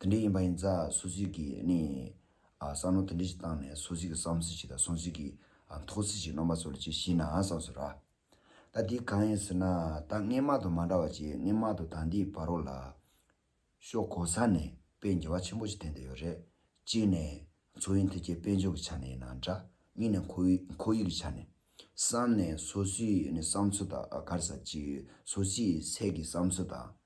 དེ་འདྲའི་ཡིན་པ་ཡིན་ཙང་སོ་སོའི་གིས་ནི། བསམ་བློ་དེ་འདྲའི་ཞིག་བཏང་ནས་སོ་སོའི་གིས་བསམ་ཚུལ་ཞིག་དང་སོ་སོའི་གིས་མཐོང་ཚུལ་ཞིག་རྣམ་པ་ཚོ་ལ་ཅིག་ཤེས་ན་བསམ་སོ་ར། ད་འདི་གང་ཡིན་ཟེར་ན་ད་སྔས་མ་དང་མ་འདྲ་བ་ཅིག་སྔས་མ་དང་ད་འདིའི་བར་རོ་ལ། ཤོག་གོ་ས་ནས་དཔེ་རྒྱ་བ་ཆེན་པོ་ཞིག་བསྟན་དུ་ཡོད་རེད། གཅིག་ནས། མཚོ་དབྱིན་ཐེ་ཁྱའི་དཔལ་འབྱོར་གྱི་ཆ་ནས་ཡིན་ན་འདྲ། གཉིས་ནས་ཁོ་བོའི་ཁོར་ཡུག་གི་ཆ་ནས། གསམ་ནས་སོ་སོའི་ནི་བསམ་ཚུལ་དང་གར་ས་ཅིག་སོ་སོའི་ཚད་ཀྱི་བསམ་ཚུལ་དང།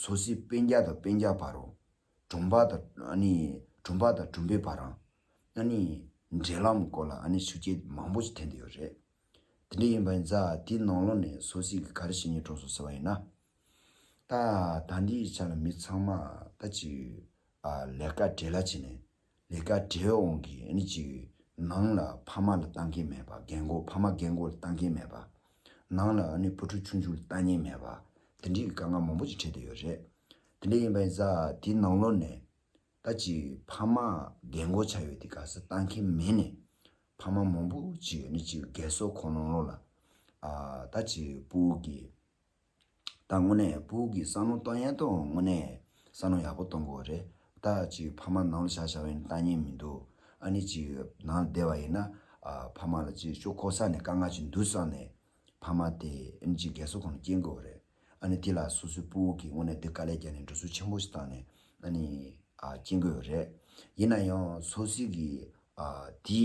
སོ་སོའི་དཔེ་བརྒྱ་དང་དཔེ་བརྒྱ་བར་རོ། གྲུམ་པ་དང་གྲུམ་པ་དང་གྲུམ་པའི་བར་རམ། འབྲེལ་ལམ་སྐོར་ལ་ཞུ་རྒྱུ་མང་པོ་ཞིག་འཐེན་དུ་ཡོད་རེད། དེ་འདྲ་ཡིན་པ་ཡིན་ཙང་དེའི་ནང་ལོགས་ནས་སོ་སོས་ག་རེ་བྱས་ནས་གྲོགས་སུ་ཟེར་བ་ཡིན་ན། ད་ལྟ་འདིའི་ཆ་ལ་མི་ཚང་མ་ད་ཅིག་ལས་ཀ་བྲེལ་ལ་བྱས་ནས། ལས་ཀ་བྲེལ་འོང་གི་ཨ་ནི་ཅིག་ནང་ལ་ཕ་མ་ལ་ལྟ་མཁན་མེད་པ་རྒན་མགོ་ཕ་མ་རྒན་མགོ་ལ་ལྟ་མཁན་མེད་པ། ནང་ལ་ཨ་ནི་བུ་ཕྲུག་ཆུང་ཆུང་ལ་ལྟ་ཉན་མེད་པ་དེ་འདྲའི་དཀའ་ངལ་མང་པོ་ཅིག་འཕྲད་དུ་ཡོད་རེད། དེ་འདྲ་ཡིན་པ་ཡིན་ས་དེའི་ནང་ལོག་ནས་ད་ཅིག་ཕ་མ་རྒན་མགོ་ཆགས་ཡོད་དེ་ག་ས་ལྟ་མཁན་མེད་ནས་ཕ་མ་མང་པོ་ཅིག་ཨ་ནི་ཅིག་རྒས་གསོ་ཁོ་ལོང་ལོང་ལ་ད་ཅིག་སྤུ་གི། ད་དངོས་གནས་སྤུག་གི་བསམ་བློ་གཏོང་ཡས་ཐོག་དངོས་གནས་བསམ་བློ་ཡག་པོ་གཏོང་དགོས་རེད་ད་ཅིག་ཕ་མ་ནང་ལ་བཞག་བཞག་བས་ནི་ལྟ་ཉན་མི་འདུག་ཨ་ནི་ཅིག་ནང་ལ་བསྡད་བ་ཡིན་ན་ཕ་མ་ལ་ཅིག་ཤོ་ཁོ་ས་ནས་དཀའ་ངལ་ཅིག་འདུག་བསམ་ནས་ཕ་མ་དེ་ཨ་ནི་ཅིག་རྒས་གསོ་ཁོ་ན་སྐྱེལ་དགོས་རེད་ཨ་ནི་དེ་ལ་སོ་སོའི་སྤུག་གིས་དངོས་གནས་འདི་དཀའ་ལས་བརྒྱབ་ནས་འགྲོ་སྲོལ་ཆེན་པོ་ཞིག་བཏང་ནས་ཨ་ནི་ཅིག་སྐྱེལ་དགོས་རེད་ཡིན་ན་ཡང་སོ་སིག་གིས་དེའི་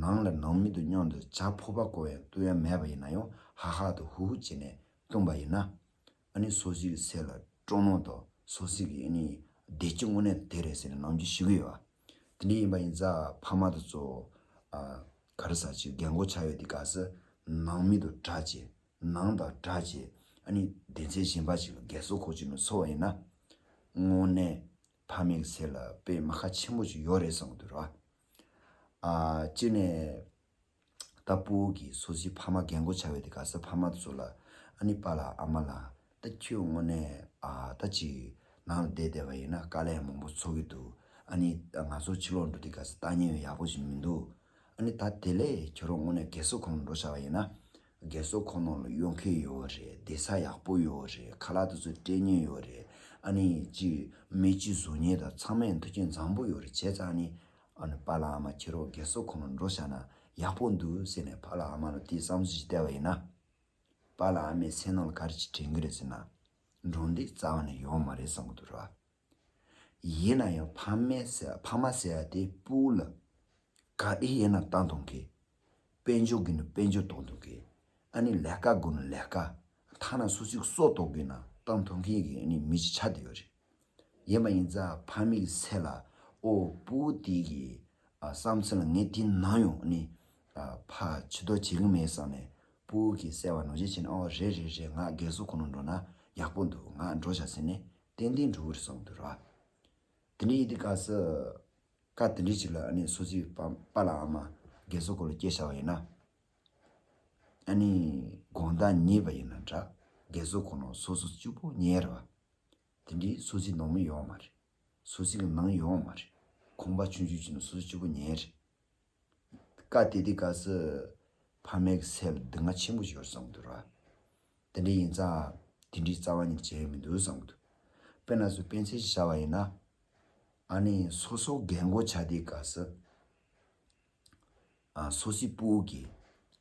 ནང་ལ་ནང་མི་འདུག་སྙོམས་དུ་བྱ་ཕོ་པ་གོ་ཡང་ལྟུ་ཡ་མེད་པ་ཡིན་ན་ཡང་ཧ་ཧ་དུ་ཧུ་ཧུ་བྱེད་ནས་ལྟུང་བ་ཡིན་ན། ཨ་ནི་སོ་སི་གི་ཚེ་ལ་ཀྲོ་ནོ་དོ་སོ་སི་གི་ཨི་ནི་བདེ་སྐྱིད་དངོས་གནས་དེ་རེད་ཟེར་ནས་ནང་འཇུ་ཞི་གི་ཡོད་བ། དེ་འདྲའི་ཡིན་པ་ཡིན་ཙང་ཕ་མ་དང་གཙོ་བོ་ཨ་ག་རེ་ཟ་ཆེ་གེ་མགོ་ཆག་ཡོད་དེ་ག་ས་ནང་མི་དུ་གྲ་ཆེ་ནང་དང་གྲ་ཆེ་ཨ་ནི་བདེ་ཚེ་གཞན་པ་ཞིག་ལ་རྒས་སོ་ཁོ་ཅིག་ནས་འཚོ་བ་ཡིན་ན། དངོས་གནས་ཕ་མེས་ཀི་ཚེ་ལ་པད་མ་ཁ་ཆེན་པོ་ཅིག་ཡོད་རེད་བསམ་གི་འདུག་ར། སྤྱིར་ནས། ད་སྤུ་བོ་གིས་སོ་སིའི་ཕ་མ་རྒན་བཀུར་བྱ་བས་དེ་ག་སོའི་ཕ་མ་ཚོ་ལ། ཨ་ནི་པ་ལ་ཨ་མ་ལ། ད་ཁྱོད་དངོས་གནས་ད་ཅིག་ནང་ལ་བསྡད་བསྡད་པ་ཡིན་ན་དཀའ་ལས་མང་པོ་འཚོ་གི་འདུག་ཨ་ནི། ད་ང་ཚོ་ཕྱི་ལོག་འགྲོ་དུས་ག་སོའི་ལྟ་ཉན་ཡང་ཡག་པོ་ཞིག་མི་འདུག་ཨ་ནི། ད་དེ་ལས་ཁྱོད་རང་དངོས་གནས་རྒས་གསོ་ཁང་དུ་འགྲོ་བྱ་བ་ཡིན་ན། རྒས་གསོ་ཁོ་ནོར་ལ་ཡོང་མཁན་ཡོད་རེད་བདེ་ས་ཡག་པོ་ཡོད་རེད་ཁ་ལག་དེ་ཚོ་སྤྲད་ཉེན་ཡོད་རེད་ཨ་ནི་ཅི་མི་ཅི་བཟོ་ཉེན་དང་ཚང་མས་མཐུ་རྐྱེན་བཟང་པོ་ཡོད་རེད་བྱས་ཙང་ནི་ཨ་ནི་ཕ་ལ་ཨ་མ་ཁྱེར་རོགས་རྒས་གསོ་ཁོ་ནོར་འགྲོ་བཞག་ན་ཡག་པོ་འདུག་ཟེར་ནས་ཕ་ལ་ཨ་མ་ལ་དེའི་བསམ་ཚུལ་ཞིག་བསྟད་པ་ཡིན་ན། ཕ་ལ་ཨ་མས་སེམས་ནང་ལ་ག་རེ་ཞིག་དྲན་གྱི་རེད་ཟེར་ན། འགྲོ་འདི་རྩ་བ་ནས་ཡོང་བ་མ་རེད་བསམ་གྱི་འདུག་རེད་བ། ཡིན་ན་ཡང་ཕ་མ་ཟེར་བ་དེ་སྤུ་ལ། ག་དེ་ཡིན་ན་བཏང་ཐོང་གི། དཔལ་འབྱོར་གི་ན་དཔལ་འབྱོར་གཏོང་ཐོང་གི། ཨ་ནི་ལས་ཀ་དགོས་ན་ལས་ཀ། ཐ་ན་སུ་ཚིག་སྲོག་གཏོགས་གི་ན་བཏང་ཐོང་མཁན་གྱི་ནི་མི་ཅི་ཆ་དེ་ཡོད་རེད། ཡིན་མ་ཡིན་ཙ་ཕ་མི་གི་སེ་ལ་ཨོ་སྤུ་དེ་གི་བསམ་ཚུལ་ལ་ངས་དེ་ནང་ཡོང་ནི། ཕ་ཕྱི་དོ་བྱེད་གི་མེད་བསམ་ནས་སྤུ་གི་སེ་བ་ནོར་འཇལ་བྱས་ནས་ཨོ་རེད་རེད་རེད་ང་རྒས་གསོ་ཁོ་ན་འགྲོ་ན་ཡག་པོ་འདུག་ང་འགྲོ་བྱ་ཟེར་ནས་ཏན་ཏན་འགྲོ་འོས་སམ་འདུག་ར། དེ་འདྲའི་ཡིན་དུས་ག་ས་ཀ་དེ་འདྲའི་ཅིག་ལ་ཨ་ནི་སོ་སི་པ་པ་ལ་ཨ་མ་རྒན་གསོ་སྐོར་ལ་སྐྱེལ་བྱ་བ་ཡིན་ན། ཨ་ནི་དགོང་ཟླ་གཉིས་པ་ཡིན་ན་འདྲ་རྒན་གསོ་ཁོ་ནོ་སོ་སོ་བཅུ་པོ་ཉེ་ར་བ། དེ་འདྲའི་སོ་སི་ནང་མི་ཡོའོ་མ་རེད། སོ་སི་གི་ནང་ཡོའོ་མ་རེད། ཁོང་པ་ཆུང་ཆུང་ཅིག་ནི་སོ་སོ་བཅུ་པོ་ཉེ་རེད། བཀའ་དེ་དེ་ག་ཟི། ཕ་མའི་གི་ཚད་ལ་སྡུག་བསྔལ་ཆེན་པོ་ཤོར་བསམ་གི་འདུག་ར། དེ་འདྲ་ཡིན་ཙང་དེ་འདྲའི་རྩ་བ་ཉིད་བྱས་ཡོད་མི་འདུག་བསམ་གི་འདུག་དཔེར་ན་སུ་སྤེན་ཚེ་ཞེས་བྱ་བ་ཡིན་ན། ཨ་ནི་སོ་སོ་རྒན་མགོ་བྱ་དེ་ག་ཟི། སོ་སོའི་སྤུ་བོ་གི།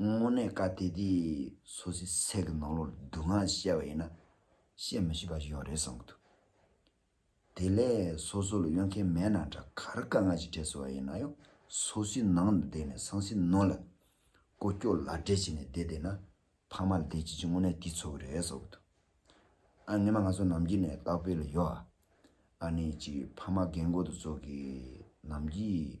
དངོས་གནས་བཀའ་གཏད་དེ་སོ་སོའི་སེམས་ཀྱི་ནང་ལོགས་ལ་སྡུག་བསྔལ་བཤད་པ་ཡིན་ན་བཤད་མི་ཤེས་པ་ཞིག་ཡང་རེད་བསམ་གྱི་འདུག་དེ་ལས་སོ་སོ་ལ་གཡོལ་མཁན་མེད་ན་འདྲ་ག་རེ་དཀའ་ངལ་ཞིག་འཕྲད་སྲིད་པ་ཡིན་ན་ཡང་སོ་སོའི་ནང་དུ་བསྡད་ནས་སངས་སེ་ནོ་ལ་ཀོ་སྐྱོ་ལག་སྦྲེལ་བྱས་ནས་བསྡད་བསྡད་ན་ཕ་མ་ལ་བདེ་སྐྱིད་ཀྱི་དངོས་གནས་དེ་འཚོ་གི་རེད་བསམ་གྱི་འདུག་ཨ་ངེད་མ་ང་ཚོ་ནམ་རྒྱུན་ནས་སྟག་དཔེ་ལ་ཡོད་ཨ་ཨ་ནི་གཅིག་ཕ་མ་རྒན་རྒོན་དུ་ཚོགས་ཀྱི་ནམ་རྒྱུན་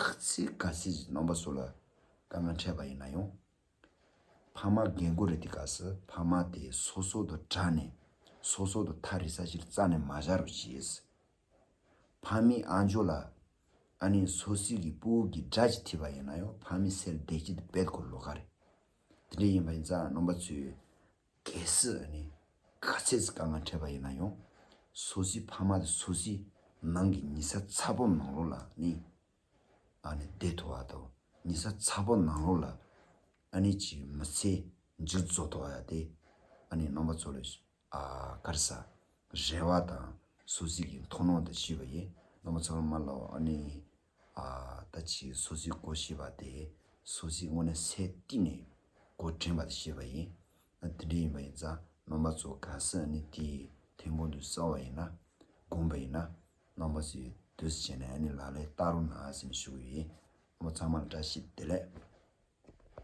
ཁག་ཚིག་ག་ཚིག་གི་རྣམ་པ་སོགས་ལ་དཀའ་ངལ་འཕྲད་པ་ཡིན་ན་ཡང། ཕ་མ་རྒན་རྒོན་རེ་འདི་ག་སི་ཕ་མ་དེ་སོ་སོ་དུ་དྲ་ནས་སོ་སོ་དུ་ཐ་རི་ས་ཕྱིར་རྩ་ནས་མ་བཞག་རུ་བྱེད་སི། ཕ་མའི་ཨ་འཇོ་ལ་ཨ་ནེ་སོ་སི་གི་པུའུ་གི་སྒྲ་ཅི་ཐི་བ་ཡིན་ན་ཡང་ཕ་མའི་སེར་བདེ་སྐྱིད་དུ་བེད་ཁོ་ལོ་ག་རེད། དེ་འདྲ་ཡིན་པ་ཡིན་ཙང་རྣམ་པ་ཚོས་གལ་སྲིད་ནི་ག་ཚད་ཀྱི་དཀའ་ངལ་འཕྲད་པ་ཡིན་ན་ཡང། སོ་སོའི་ཕ་མ་དང་སོ་སོའི་ནང་གི་ཉི་ཟ་ཚ་པོ་ནང་ལོགས་ལ་ནི་ཨ་ནི་བསྡད་ཐུབ་བ་དང་ཉི་ཟ་ཚ་པོ་ནང་ལོགས་ལ་ཨ་ནི་ཀྱི་མི་ཚེ་འཇུ་རྫོགས་ཐུབ་བ་ཡང་དེ་ཨ་ནི་ནང་པ་ཚོ་ལ་དཀར་ས་རལ་བ་དང་སོ་སོའི་གི་མཐོང་སྣང་དང་ཤེས་པ་ཡིན་ནང་པ་ཚོ་ལ་མ་ལ་ཨ་ནི་ད་ཅི་སོ་སོའི་སྒོ་ཞེས་པ་དེ་སོ་སོའི་སྔོན་ནས་སས་བཏིང་ནས་སྒོ་དྲན་པ་དེ་ཤེས་པ་ཡིན། ན་དེ་འདྲ་ཡིན་པ་ཡིན་ཙང་རྣམ་པ་ཚོ་གང་སར་ནི་དེ་ཐེངས་གོང་དུ་བསམ་བ་ཡིན་ན་བསྒོམས་པ་ཡིན་ན་རྣམ་པ་ཚོའི་དུས་སུ་བྱས་ནས་ནི་ལ་ལས་བལྟ་རུང་ན་སེམས་ཞུགས་ཡིན། ཨ་མོ་ཚང་མར་བཀྲ་ཤིས་བདེ་ལེགས།